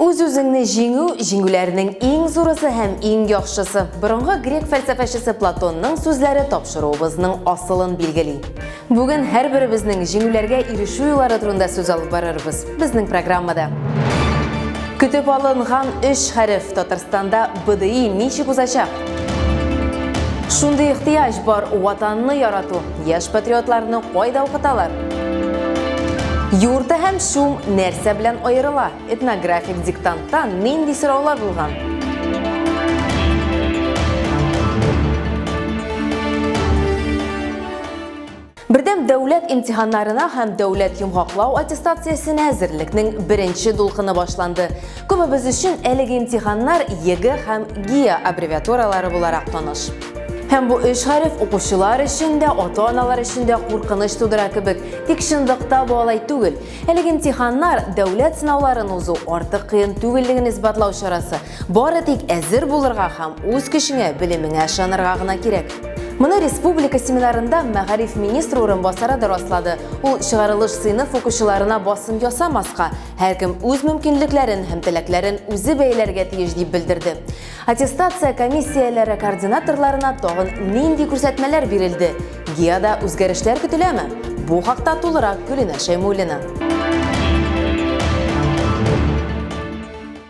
Үз-үзеңне җиңү, җиңүләрнең иң зурысы һәм иң яхшысы. Борынгы грек фәлсәфәчесе Платонның сүзләре тапшыруыбызның асылын билгели. Бүген һәрберебезнең җиңүләргә ирешү юллары турында сүз алып барырбыз безнең программада. Көтеп алынган өч хәреф Татарстанда БДИ ничек узачак? Шундый ихтыяҗ бар, ватанны ярату. Яшь патриотларны кайда укыталар? Юрты һәм шум нәрсә белән аерыла? Этнографик диктантта нинди сораулар булган? Бердәм дәүләт имтиханнарына һәм дәүләт йомгаклау аттестациясенә әзерлекнең беренче дулкыны башланды. Күбебез өчен әлеге имтиханнар ЕГЭ һәм ГИА аббревиатуралары буларак таныш. Һәм бу өч хәреф укучылар өчен дә, ата-аналар өчен дә куркыныч тудыра кебек, тик чынлыкта бу алай түгел. Әлеге имтиханнар дәүләт сынауларын узу артык кыен түгеллеген исбатлау чарасы. Бары тик әзер булырга һәм үз көчеңә, белемеңә ышанырга гына кирәк. Моны республика семинарында мәгариф министры урынбасары да раслады. Ул чыгарылыш сыйныф укучыларына басым ясамаска, Һәркем үз мөмкинлекләрен һәм теләкләрен үзе бәяләргә тиеш дип белдерде. Аттестация комиссияләре координаторларына тагын нинди күрсәтмәләр бирелде? ГИАда үзгәрешләр көтеләме? Бу хакта тулырак Гөлинә Шәймуллина.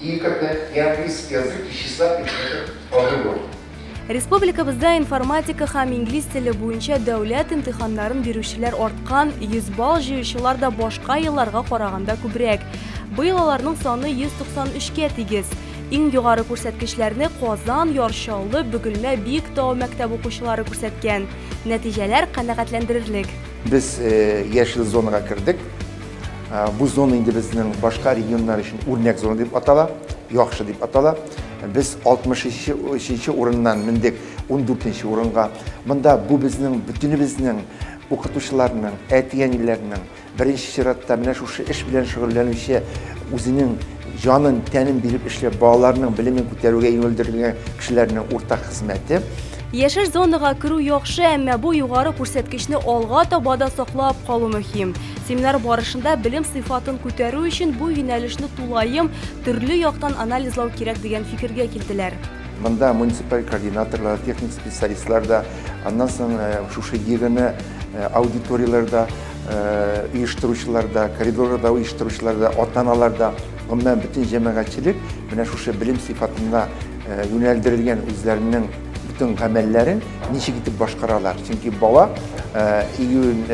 Иң күп тә ианглийский язык и числа предметов алынуы. Республикабызда информатика һәм инглиз теле буенча дәүләт имтиханнарын бирүчеләр арткан, 100 балл җыючылар да башка елларга караганда күбрәк. Быел аларның саны 193 кә тигез. Иң югары күрсәткечләрне Казан, Яр Чаллы, Бөгелмә, Биектау мәктәп укучылары күрсәткән. Нәтиҗәләр канәгатьләндерерлек. Без яшел зонага кердек. Ә, бу зона инде безнең башка регионнар өчен үрнәк зона дип атала, яхшы дип атала. Без 63 урыннан мендек 14 урынга. Монда бу безнең бөтенебезнең укытучыларның, әти-әниләрнең, беренче чиратта менә шушы эш белән шөгыльләнүче үзенең Җанын, тәнен биреп эшләп, балаларның белемен күтәрүгә юнәлдерелгән кешеләрнең уртак хезмәте. Яшел зонага керү яхшы, әмма бу югары күрсәткечне алга таба да саклап калу мөһим. Семинар барышында белем сыйфатын күтәрү өчен бу юнәлешне тулаем, төрле яктан анализлау кирәк дигән фикергә килделәр. Монда муниципаль координаторлар, техник специалистлар да, аннан соң шушы ЕГЭны аудиторияләр дә, оештыручылар да, коридорларда оештыручылар да, ата-аналар да, гомумән бөтен җәмәгатьчелек менә шушы белем сыйфатына юнәлдерелгән үзләренең бөтен гамәлләрен ничек итеп башкаралар. Чөнки бала июнь,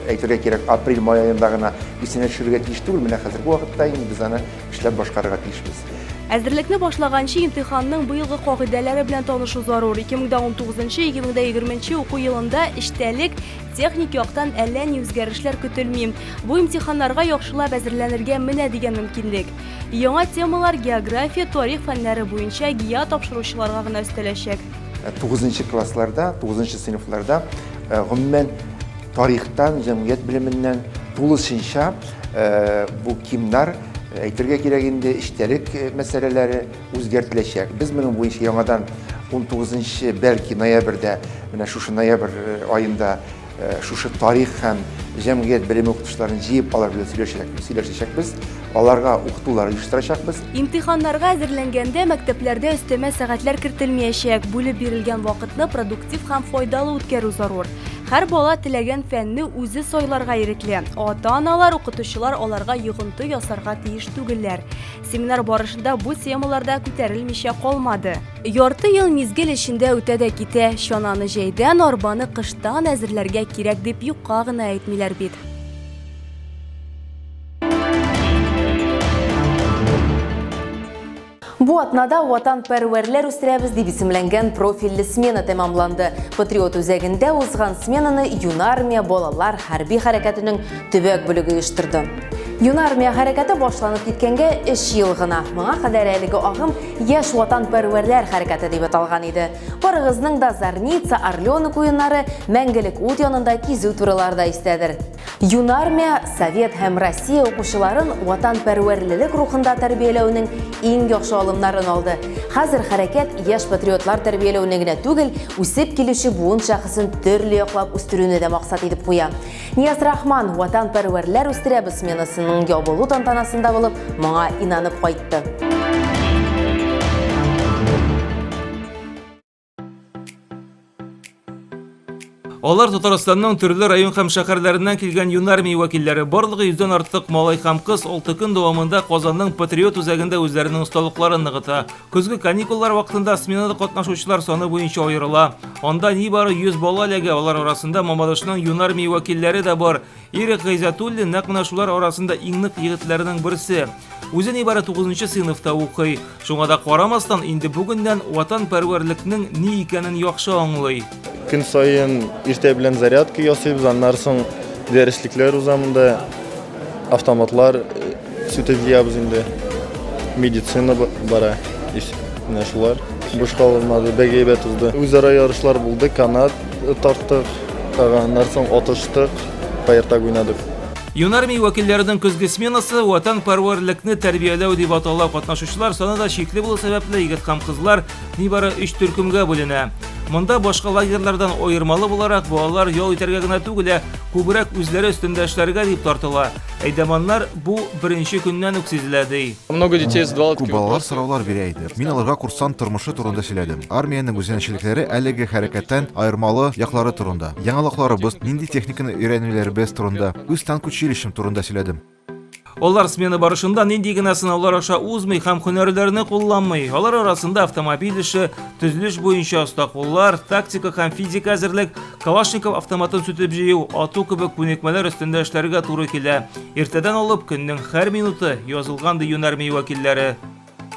әйтергә кирәк, апрель-май аенда гына исенә төшерергә тиеш түгел, менә хәзерге вакытта инде без аны эшләп башкарырга тиешбез. Әзерлекне башлаганчы имтиханның быелгы кагыйдәләре белән танышу зарур. 2019-2020 уку елында эчтәлек, Техник яктан әллә ни үзгәрешләр көтелми. Бу имтиханнарга яхшылап әзерләнергә менә дигән мөмкинлек. Яңа темалар география, тарих фәннәре буенча ГИА тапшыручыларга гына өстәләчәк. Э, тугызынчы классларда, тугызынчы сыйныфларда э, гомумән тарихтан, җәмгыять белеменнән тулысынча э, бу кимнар әйтергә кирәк инде, эчтәлек мәсьәләләре, Үзгәртеләчәк. Без моның буенча яңадан унтугызынчы, бәлки, ноябрьдә, менә шушы ноябрь аенда шушы тарих һәм җәмгыять белеме укытучыларын җыеп алар белән сөйләшәчәкбез, сөйләшәчәкбез, аларга укытулар оештырачакбыз. Имтиханнарга әзерләнгәндә мәктәпләрдә өстәмә сәгатьләр кертелмиячәк, бүлеп бирелгән вакытны продуктив һәм файдалы үткәрү зарур. Һәр бала теләгән фәнне үзе сайларга ирекле, ата-аналар, укытучылар аларга йогынты ясарга тиеш түгелләр. Семинар барышында бу темалар да күтәрелмичә калмады. Ярты ел мизгел эчендә үтә дә китә, чананы җәйдән, арбаны кыштан әзерләргә кирәк дип юкка гына әйтмиләр бит. Бу атнада ватан пәрвәрләр үстерәбез дип исемләнгән профильле смена тәмамланды. Патриот үзәгендә узган сменаны юнармия балалар хәрби хәрәкәтенең Төбәк бүлеге оештырды. Юнармия хәрәкәте башланып киткәнгә 3 ел гына. Моңа кадәр әлеге агым яшь ватанпәрвәрләр хәрәкәте дип аталган иде. Барыгызның да Зарница, Орленок уеннары, Мәңгелек ут янында кизү турылары да истәдер. Юнармия Совет һәм Россия укучыларын ватанпәрвәрлелек рухында тәрбияләүнең иң яхшы алымнарын алды. Хәзер хәрәкәт яшь патриотлар тәрбияләүне генә түгел, үсеп килүче буын шәхесен төрле яклап үстерүне дә максат итеп куя. Нияз-Рахман Ватанпәрвәрләр үстерәбез сменасының ябылу тантанасында булып, моңа инанып кайтты. Алар Татарстанның төрле район һәм шәһәрләреннән килгән юнармия вәкилләре барлыгы йөздән артык малай һәм кыз алты көн дәвамында Казанның Патриот үзәгендә үзләренең осталыкларын ныгыта. Көзге каникуллар вакытында сменада катнашучылар саны буенча аерыла. Анда нибары 100 бала эләгә, алар арасында Мамадышның Юнармии вәкилләре дә бар. Ирек Гайзатуллин нәкъ менә шулар арасында иң нык егетләрнең берсе. Үзе нибары 9 сыйныфта укый. Шуңа да карамастан, инде бүгеннән ватанпәрвәрлекнең ни икәнен яхшы аңлый. Көн саен иртә белән зарядка ясыйбыз, аннары соң дәреслекләр уза монда. Автоматлар э, сүтеп җыябыз инде. Медицина бара. Менә шулар. Буш калмады, бик әйбәт узды. Үзара ярышлар булды, канат тарттык, аннары соң атыштык, фаертаг уйнадык. Юнармия вәкилләренең көзге сменасы ватанпәрвәрлекне тәрбияләү дип атала. Катнашучылар саны да чикле булу сәбәпле, егет һәм кызлар Нибары өч төркемгә бүленә. Монда башка лагерьлардан аермалы буларак балалар ял итәргә генә түгел, ә күбрәк үзләре өстендә эшләргә дип тартыла. Әйдәманнар бу беренче көннән үк сизелә, ди. Много детей задавало Күп такие балалар вопросы. сораулар бирә иде. Мин аларга курсант тормышы турында сөйләдем. Армиянең үзенчәлекләре, әлеге хәрәкәттән аермалы яклары турында, яңалыкларыбыз, нинди техниканы өйрәнүләребез турында, үз танк училищем турында сөйләдем. Алар смена барышында нинди генә сынаулар аша узмый һәм һөнәрләрне кулланмый. Алар арасында автомобиль эше, төзелеш буенча оста куллар, тактика һәм физик әзерлек, Калашников автоматын сүтеп җыю, ату кебек күнекмәләр өстендә эшләргә туры килә. Иртәдән алып көннең һәр минуты язылган ди юнәр мей вәкилләре.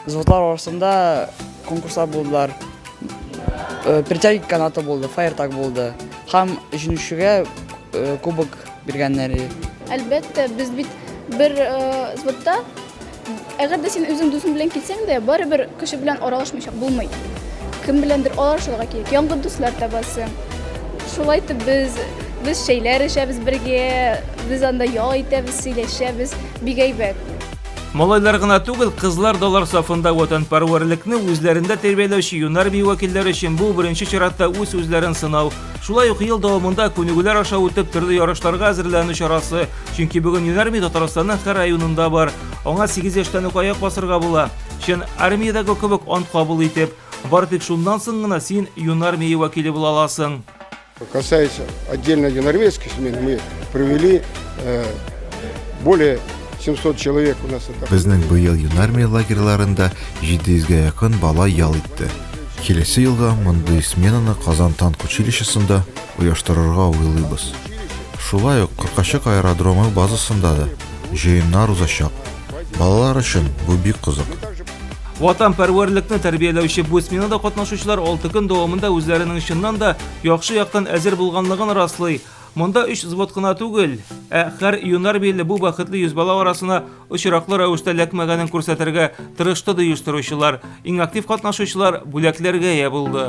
Звутлар арасында конкурслар булдылар. Э, Притяги канаты булды, фаертак булды. Һәм җиңүчегә э, кубок биргәннәре. Әлбәттә, без бит бер э, звутта Әгәр дә син үзең дусың белән килсәң дә, барыбер кеше белән аралашмыйча булмый. Кем беләндер аралашырга кирәк. Яңгы дуслар табасың. Шулай итеп без без шәйләр эчәбез бергә, без анда ял итәбез, сөйләшәбез, бик әйбәт. Малайлар гына түгел, кызлар далар сафында ватанпәрвәрлекне үзләрендә тәрбияләүче юнар бию вәкилләре өчен бу беренче чиратта үз үзләрен сынау. Шулай ук ел дәвамында күнегүләр аша үтеп төрле ярышларга әзерләнү чарасы. Чөнки бүген юнар бию Татарстанның һәр районында бар. Аңа 8 яшьтән үк аяк басырга була. Чын армиядәге кебек ант кабул итеп. Бары тик шуннан соң гына син юнар бию вәкиле була аласың. Касается отдельно юнорвейской смены, мы провели э, более 700 человек у нас это. Безнең быел юнармия лагерьларында 700 га якын бала ял итте. Киләсе елга мондый сменаны Казан танк училищесында оештырырга уйлыйбыз. Шулай ук Кыркачык аэродромы базасында да җыеннар узачак. Балалар өчен бу бик кызык. Ватанпәрвәрлекне тәрбияләүче бу сменада катнашучылар алты көн дәвамында үзләренең чыннан да яхшы яктан әзер булганлыгын раслый. Монда өч взвод кына түгел, ә хәр юнар биле бу бәхетле йөз бала арасына очраклы рәвештә ләкмәгәнен күрсәтергә тырышты ди оештыручылар. Иң актив катнашучылар бүләкләргә ия булды.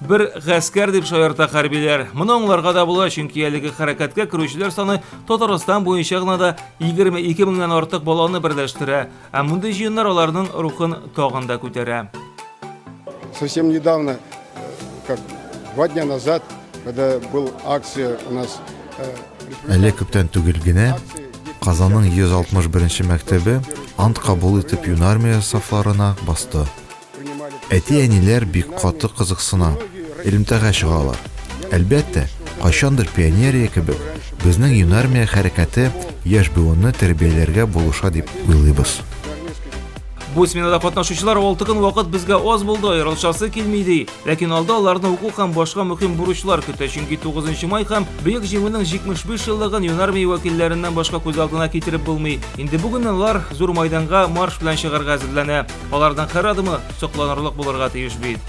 Бер гаскәр дип шаярта хәрбиләр. Моны аңларга да була, чөнки әлеге хәрәкәткә керүчеләр саны Татарстан буенча гына да 22 меңнән артык баланы берләштерә, ә мондый җыеннар аларның рухын тагын да күтәрә. Совсем недавно, как два дня назад, когда был акция у нас Әле күптән түгел генә Казанның 161 мәктәбе ант кабул итеп юнармия сафларына басты. Әти-әниләр бик каты кызыксына, элемтәгә чыгалар. Әлбәттә, кайчандыр пионерия кебек, безнең юнармия хәрәкәте яшь буынны тәрбияләргә булыша дип уйлыйбыз. Бу сменада катнашучылар алты көн вакыт безгә аз булды, аерылышасы килми, ди. Ләкин алда аларны уку һәм башка мөһим бурычлар көтә, чөнки 9 май һәм Бөек Җиңүнең 75 еллыгын юнармия вәкилләреннән башка күз алдына китереп булмый. Инде бүгеннән алар зур мәйданга марш белән чыгарга әзерләнә. Алардан хәр адымы сокланырлык булырга тиеш бит.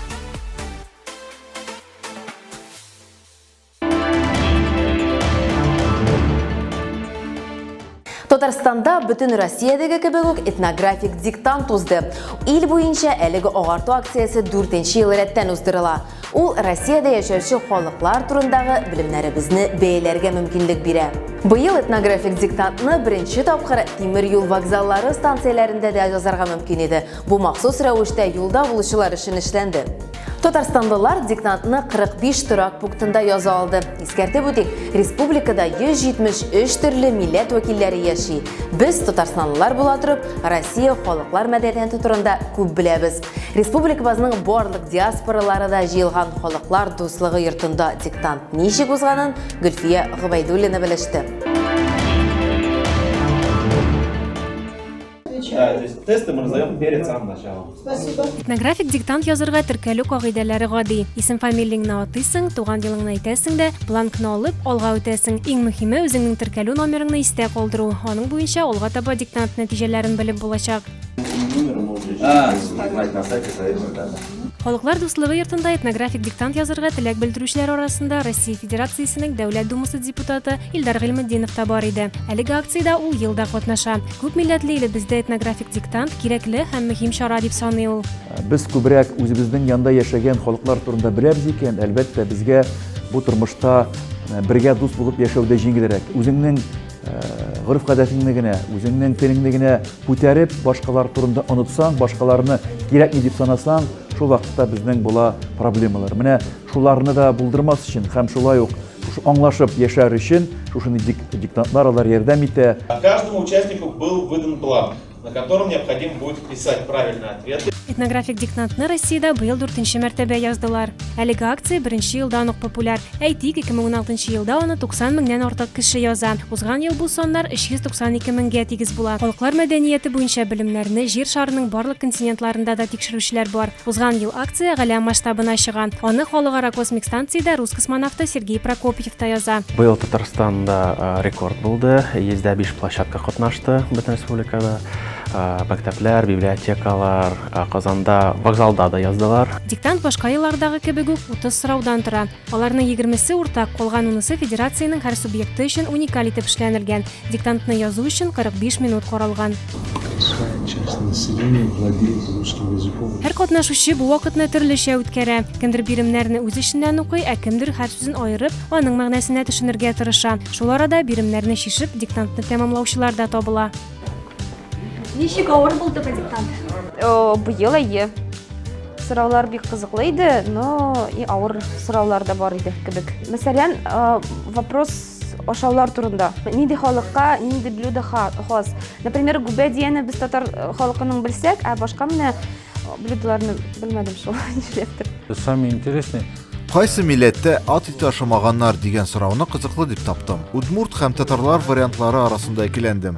Татарстанда бүтін Россиядегі кебек үк этнографик диктант узды. Ил буенча әлеге агарту акциясе 4 ел рәттән уздырыла. Ул Россиядә яшәүче халыклар турындагы белемнәребезне бәяләргә мөмкинлек бирә. Быел этнографик диктантны беренче тапкыр тимер юл вокзаллары станцияләрендә дә язарга мөмкин иде. Бу махсус рәвештә юлда булучылар өчен эшләнде. Татарстанлылар диктантны 45 торак пунктында яза алды. Искәртеп үтик, республикада 173 төрле милләт вәкилләре яши. Без, татарстанлылар була торып, Россия халыклар мәдәнияте турында күп беләбез. Республикабызның барлык диаспоралары да җыелган халыклар дуслыгы йортында диктант ничек узганын Гөлфия Гобәйдуллина белеште. Тесты мы раздаем перед самым началом. Спасибо. Этнографик диктант язырга теркәлү кагыйдәләре гади. Исем фамилияңне атыйсың, туган елыңны әйтәсең дә, бланкны алып, алга үтәсең. Иң мөһиме, үзеңнең теркәлү номерыңны истә калдыру. Аның буенча алга таба диктант нәтиҗәләрен белеп булачак. Халыклар дуслыгы йортында этнографик диктант язырга теләк белдерүчеләр арасында Россия Федерациясенең Дәүләт Думасы депутаты Илдар Гыйльметдинов та бар иде. Әлеге акциядә ул елда катнаша. Күп милләтле илебездә этнографик диктант кирәкле һәм мөһим чара дип саный ул. Без күбрәк үзебезнең янда яшәгән халыклар турында беләбез икән, әлбәттә, безгә бу тормышта э, бергә дус булып яшәү дә җиңелрәк. Үзеңнең э, гореф-гадәтеңне генә, үзеңнең телеңне генә Күтәреп, башкалар турында онытсаң, башкаларны кирәкми дип санасаң, шул вакытта безнең була проблемалар. Менә шуларны да булдырмас өчен һәм шулай ук шушы аңлашып яшәр өчен шушыны дик, диктантлар алар ярдәм итә. Каждому участнику был выдан бланк, на котором необходимо будет вписать правильный ответ. Этнографик диктантны Россиядә быел дүртенче мәртәбә яздылар. Әлеге акция беренче елдан ук популяр. Әйтик, 2016 елда аны 90 меңнән артык кеше яза. Узган ел бу саннар 392 меңгә тигез була. Халыклар мәдәнияте буенча белемнәрне Җир шарының барлык континентларында да тикшерүчеләр бар. Узган ел акция галәм масштабына чыга. Аны Халыкара космик станциядә рус космонавты Сергей Прокопьев та яза. Быел Татарстанда рекорд булды. 105 площадка катнашты бөтен республикада. Мәктәпләр, библиотекалар, Казанда вокзалда да яздылар. Диктант башка еллардагы кебек үк 30 сораудан тора. Аларның 20-се уртак, калган унысы федерациянең һәр субъекты өчен уникаль итеп эшләнелгән. Диктантны язу өчен 45 минут каралган. Һәр катнашучы бу вакытны төрлечә үткәрә. Кемдер биремнәрне үз эченнән укый, ә кемдер хәрф сүзен аерып, аның мәгънәсенә төшенергә тырыша. Шул арада биремнәрне чишеп, диктантны тәмамлаучылар да табыла. Ничек авыр булды бу диктант? Быел әйе. Сораулар бик кызыклы иде, но и авыр сораулар да бар иде кебек. Мәсәлән, вопрос ашаулар турында. Нинди халыкка, нинди блюдо хас? Например, губәдияне без татар халкының белсәк, ә башка менә Блюдоларны белмәдем шул, нишләптер. Самый интересный Кайсы милләттә ат ите ашамаганнар дигән сорауны кызыклы дип таптым. Удмурт һәм татарлар вариантлары арасында икеләндем.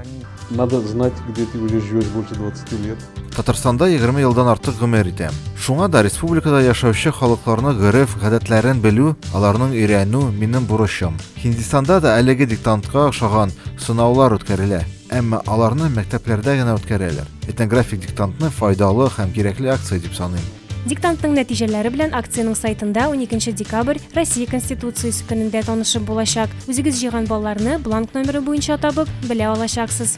Надо знать, где ты уже живешь больше 20 лет. Татарстанда 20 елдан артык гомер итәм. Шуңа да республикада яшәүче халыкларны гореф, гадәтләрен белү, аларның өйрәнү минем бурычым. Һиндистанда да әлеге диктантка охшаган сынаулар үткәрелә. Әмма аларны мәктәпләрдә генә үткәрәләр. Этнографик диктантны файдалы һәм кирәкле акция дип саныйм. Диктантның нәтиҗәләре белән акциянең сайтында 12 декабрь Россия Конституциясе көнендә танышып булачак. Үзегез җыйган балларны бланк номеры буенча табып, белә алачаксыз.